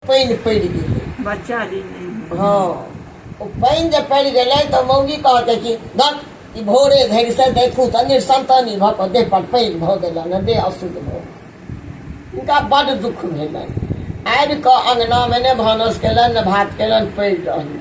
पानि पड़ि गेलै बच्चा जे नहि भेल। हँ ओ पानि जे पड़ि गेलै तऽ मौगी कहते कि धक ई भोरे धरि से देखू तऽ निसंतानी भऽ कऽ देह पर पानि भऽ गेलनि हँ, देह अशुद्ध भऽ गेल। हुनका बड्ड दुःख भेलनि आबि कऽ अङ्गनामे ने भानस केलनि ने भात केलनि पड़ि रहलनि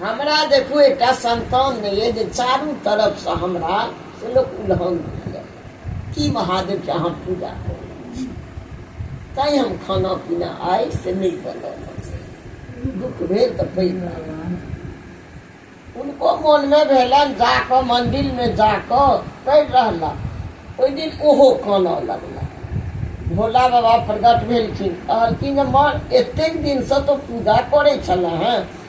हमरा देखू एकटा संतान नहि अइ जे चारू तरफसँ हमरा से लोक उलहन दिअ की महादेवके अहाँ पूजा करू तैँ हम खाना पीना आइ से नहि बनल दुःख भेल तऽ पैघ उनको मोनमे भेलनि जा कऽ मन्दिरमे जा कऽ पढ़ि रहला ओहि दिन ओहो कानऽ लगला भोला बाबा प्रगट भेलखिन कहलखिन जे माँ एतेक दिनसँ तो पूजा करै छलए हेँ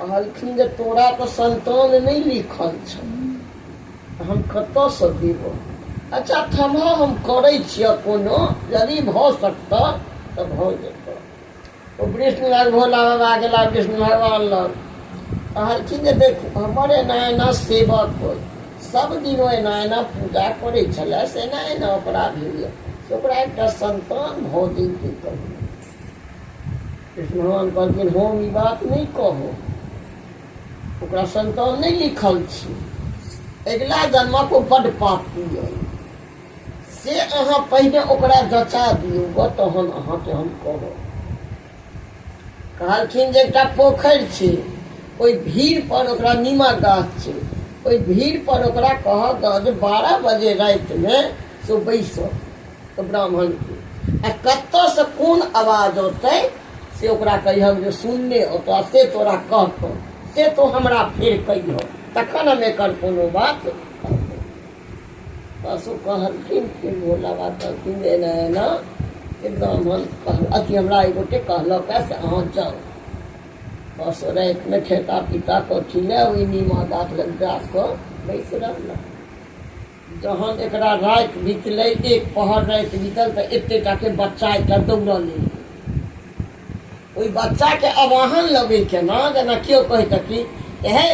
कहलखिन जे तोरा तऽ संतान नहि लिखल छ हम कतऽसँ देबो अच्छा थम्हा हम करै छियह कोनो यदि भऽ सकतह तऽ भऽ जेतह ओ विष्णु लग भोला बाबा गेला विष्णु भगवान लग कहलखिन जे देखू हमर एना एना सेवक होइ सब दिन ओ एना एना पूजा करै छलै से एना एना ओकरा भेलै से ओकरा एकटा संतान भऽ जैतै कहियो कृष्ण भगवान कहलखिन हम ई बात नहि कहब ओकरा संतान नहि लिखल छी अगिला जन्मक ओ बड पापी अइ से अहाँ पहिने ओकरा जचा दियौ ग तहन अहाँके हम कहब कहलखिन जे एकटा पोखरि छै ओहि भीड़ पर ओकरा नीमा गाछ छै ओहि भीड़ पर ओकरा कहब जे बारह बजे रातिमे से बैसब ब्राह्मण आ कतऽसँ कोन आवाज औतै से ओकरा कहिहक जे सुनने औतऽ से तोरा कहतौ से तो हमरा फेर कहियौ तखन हम एकर कोनो बात पशु कहलखिन कि भोला बाबा कहलखिन जे एना एना से ब्राह्मण कह अथी हमरा एक गोटे कहलक है से अहाँ जाउ पशु रातिमे खेता पीता कथी लए ओहि नीमा गाछ लग जा कऽ बैस रहलक जहन एकरा राति बितलै, एक पहर राति बितल तँ एते टा के बच्चा एकटा दौड़ल एलै। ओहि बच्चा के अवाहन लगै केना जेना केओ कहितए कि हे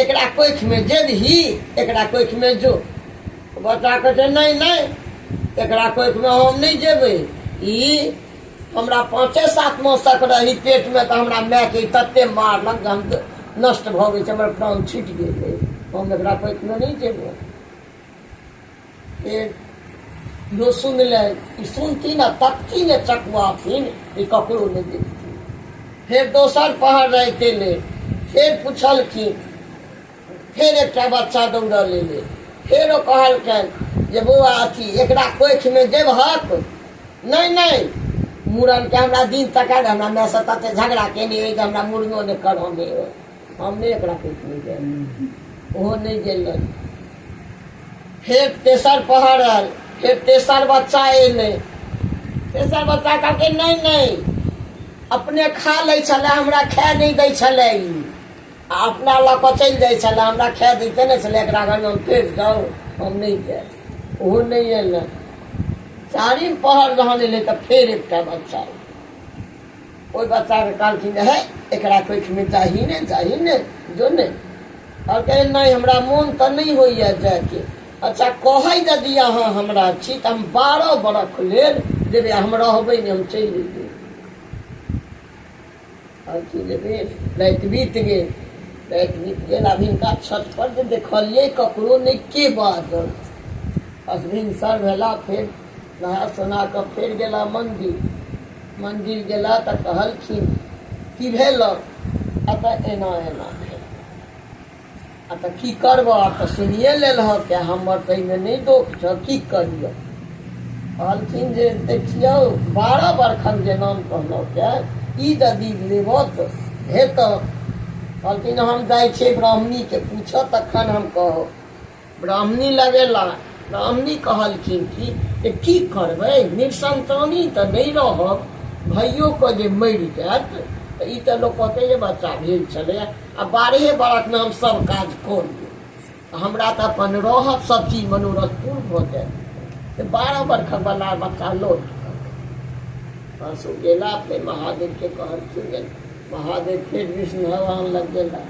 एकरा कोखि मे जेबही, एकरा कोखि मे जो। ओ बच्चा कहै छै नहि, नहि, एकरा कोखि मे हम नहि जेबै। ई। हमरा पाँचे सात मास तक रही पेटमे तऽ हमरा मायके तते मारलक जे हम नष्ट भऽ गेल छै हमर प्राण छुटि गेलै हम एकरा पैकमे नहि जेबै जो सुन ले ई सुनती ने तकती ने चकवाथिन ई ककरो नहि देखती फेर दोसर पहर रहते ले फेर पुछलखिन फेर एकटा बच्चा दौड़ऽ लेले फेर ओ कहलकनि जे बौआ अथी एकरा कोखिमे देबहक नहि नहि मूड़नके हमरा दिन तकाय हमरा मायसँ तते झगड़ा केने अइ जे हमरा मूड़नो नहि करऽ नहि अइ हम नहि एकरा कोखिमे देब ओहो नहि गेलै फेर तेसर पहर आयल फेर तेसर बच्चा एलै तेसर बच्चा कहलकै नहि नहि अपने खा लै छलै हमरा खाए नहि दै छलै ई अपना लऽ कऽ चलि जाइ छलै हमरा खाए दैते नहि छलै एकरा घरमे हम चलि जाउ हम नहि जायब ओहो नहि एलै चारिम पहर जहन एलै तऽ फेर एकटा बच्चा ओहि बच्चाके कहलखिन हे एकरा कोइठमे चाही ने चाही ने जो ने आओर कहै नहि हमरा मोन तऽ नहि होइए जायके अच्छा कहै यदि अहाँ हमरा छी तऽ हम बारह बरख लेल जेबै हम रहबै नहि हम चलि जेबै आओर की जे भेल राति बीत गेल राति बीत गेल आब हिनका छत पर जे देखलियै ककरो नहि के बाजल बस भिनसर भेला फेर नहा सोना कऽ फेर गेला मन्दिर मन्दिर गेला तऽ कहलखिन की भेलक एतऽ एना एना भेल आ तऽ की करबह आब तऽ सुनिए लेलहँ के हमर तऽ एहिमे नहि दोख छह की कहियौ कहलखिन जे देखियौ बारह बरखन जे नाम कहलहुँ के ई यदि लेबह तऽ हेतह कहलखिन हम जाइ छियै ब्राह्मणीके पूछह तखन हम कहब ब्राह्मणी लगेला ब्राह्मणी कहलखिन कि जे की करबै निसन्तानी तऽ नहि रहब भाइयोके जे मरि जायत तऽ ई तऽ लोक कहतै जे बच्चा भेल छलै आ बारहे बरखमे हम सब काज कऽ लेब हमरा तऽ अपन रहब सब चीज मनोरथ पूर्ण भऽ जायत तऽ बारह बरखक बला बच्चा लौट बस ओ गेला फेर महादेवके कहलखिन जे महादेव फेर विष्णु भगवान लग गेला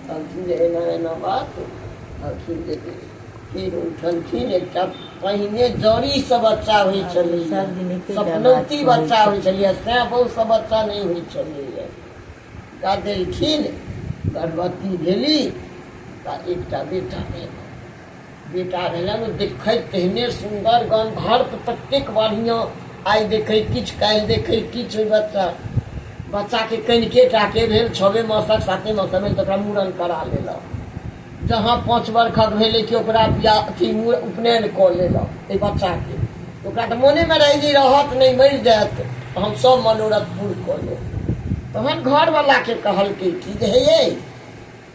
कहलखिन जे एना एना बात कहलखिन जे फेर उठलखिन एकटा पहिने जड़ीसँ बच्चा होइ छलैए सपनौती बच्चा होइ छलैए सैँ बहुसँ बच्चा नहि होइ छलैए गादेलखिन गर्भवती भेली तऽ एकटा बेटा भेल बेटा भेलै ने देखै तेहने सुन्दर गन्धर्प ततेक बढ़िआँ आइ देखै किछु काल्हि देखै किछु ओहि बच्चा बच्चाके कनिके टाके भेल छवे मासक साते मासक भेल तऽ ओकरा मूड़न करा लेलक जहाँ पाँच बरखक भेलै कि ओकरा बियाह अथी मूड़ उपनयन कऽ लेलक एहि बच्चाके ओकरा तऽ मोनेमे रहै जे रहत नहि मरि जायत तऽ हम सभ मनोरथ पूर कऽ लेब तहन घरवलाके कहलकै कि जे हे यै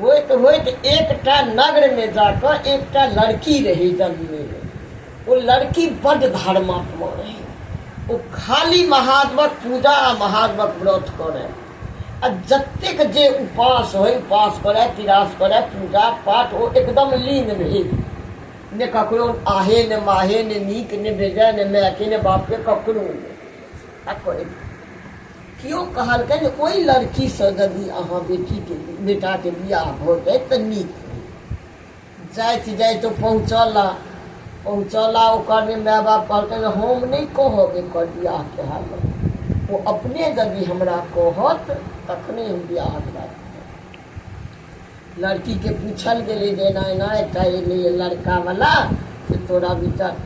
होइत होइत एकटा नगरमे जाकऽ एकटा लड़की रहै जन्मेमे ओ लड़की बड्ड धर्मात्मा रहै ओ खाली महादेवक पूजा आ महादेवक व्रत करै आ जतेक जे उपास होइ उपास करै तिरास करै पूजा पाठ ओ एकदम लीन रहै ने ककरो आहे ने माहे ने नीक ने बेजाय ने मायके ने बापके ककरो आ करै कियो कहलकैन जे ओइ लड़की सँ जदि अहाँ बेटी के बेटा के बियाह भऽ जाइत तऽ नीक होइत। जाइत जाइत ओ पहुँचला। पहुँचला ओकर ने माय बाप कहलकैन जे हम नै कहब एकर बियाह के हालत। ओ अपने जदि हमरा कहत तखने हम बियाहक राजी हेब। लड़कीके पूछल गेलै जे एना एना एकटा एलैए लड़कावला से तोरा विचार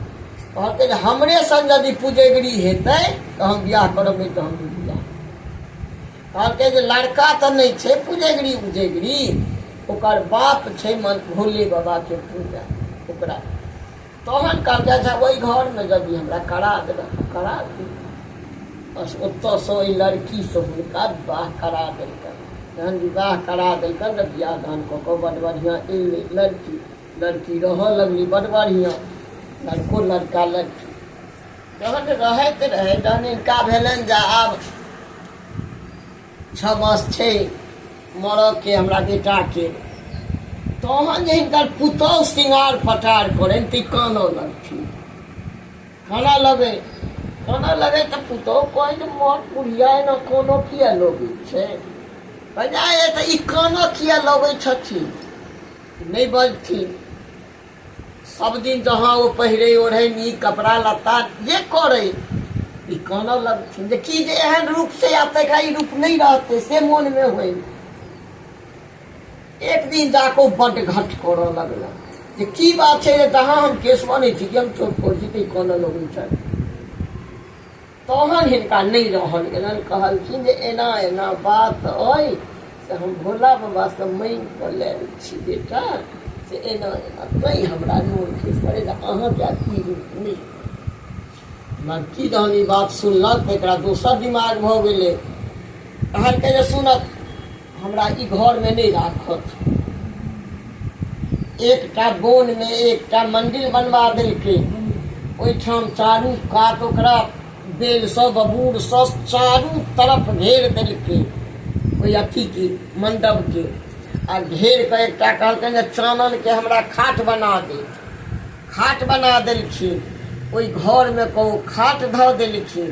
कहलकै जे हमरे सन यदि पुजगरी हेतै तऽ हम बियाह करब नहि तऽ हम नहि बियाह कहलकै जे लड़का तऽ नहि छै पुजगरी उजगरी ओकर बाप छै मन भोले बाबाके पूजा ओकरा तहन कहलकै अच्छा ओहि घरमे यदि हमरा करा देबै तऽ करा दी बस ओतऽसँ ओहि लड़कीसँ हुनका विवाह करा देलकनि जहन विवाह करा देलकनि तऽ बियाह दान कऽ कऽ बड्ड बढ़िआँ एलै लड़की लड़की रहऽ लगली बड्ड बढ़िआँ लड़को लड़का लड़की जहन रहैत रहै जहन हिनका भेलनि जे आब छओ मास छै मरऽके हमरा बेटाके तहन जे हिनकर पुतहु श्रृंगार पटार करनि तऽ ई कानऽ लगथिन कानऽ लगै कानऽ लगै तऽ पुतहु कहै जे मर बुढ़िया एना कानऽ किए लगै छै बजाय तऽ ई कानऽ किए लगै छथिन नहि बजथिन सब दिन जहाँ ओ पहिरे ओढ़े नीक कपड़ा लत्ता जे करे ई कानऽ लगथिन जे की जे एहन रूप से आब तकरा ई रूप नहीं रहते से मन में होय एक दिन जाको बड घट करऽ लगला जे की बात छै जे जहाँ हम केस बनै छी कि हम चोट करै छी तऽ ई कानऽ लगै छै तहन हिनका नहि रहल गेलनि कहलखिन जे एना एना बात अइ से हम भोला बाबासँ माँगि कऽ लेल छी बेटा से एना एना तैँ हमरा नोन खेस पड़े जे अहाँके आब ई रूप नहि मगर की जहन ई बात सुनलक तऽ एकरा दोसर दिमाग भऽ गेलै कहलकै जे सुनत हमरा ई घरमे नहि राखत एकटा बोनमे एकटा मन्दिर बनबा देलकै ओहिठाम चारू कात ओकरा बेलसँ बबूरसँ चारू तरफ घेर देलकै ओहि अथीके मण्डपके आ घेर कऽ एकटा कहलकै जे चाननके हमरा खाट बना दे खाट बना देलखिन ओहि घरमे कहू खाट धऽ देलखिन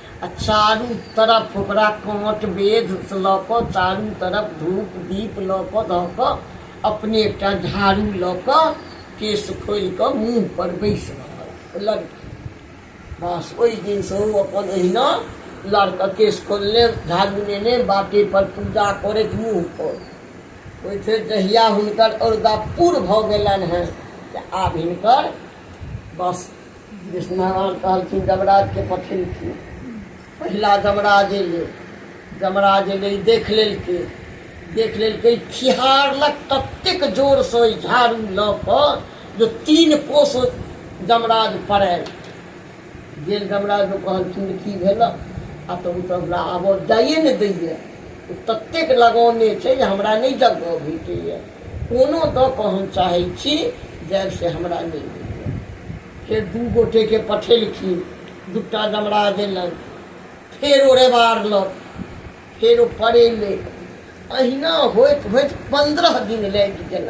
आ चारू तरफ ओकरा काँट वेध लऽ कऽ चारू तरफ धूप दीप लऽ कऽ धऽ कऽ अपने एकटा झाड़ू लऽ कऽ केश खोलि कऽ मुँह पर बैसि रहल लड़की बस ओहि दिनसँ ओ अपन एहिना लड़का केश खोलने झाड़ू नेने बाटे पर पूजा करैत मुँह पर ओहि फेर जहिया हुनकर औरदा पूर भऽ गेलनि हेँ तऽ आब हिनकर बस विष्णुनारायण कहलखिन जमराजके पठेलखिन पहिला जमराज एलै जमराज एलै देख लेलकै देख लेलकै खिहारलक ततेक जोरसँ ओहि झाड़ू लऽ कऽ जे तीन कोस जमराज पड़ायल गेल जमराज कहलखिन जे की भेल आ तऽ ओ तऽ हमरा आबऽ जाइए ने दैए ओ ततेक लगौने छै जे हमरा नहि जगह भेटैए कोनो दऽ कऽ हम चाहै छी जायब से हमरा नहि होइए फेर दू गोटेके पठेलखिन दूटा डमरा देलक फेर ओ रेबारलक फेर ओ पड़ेलै अहिना होइत होइत पन्द्रह दिन लागि गेलै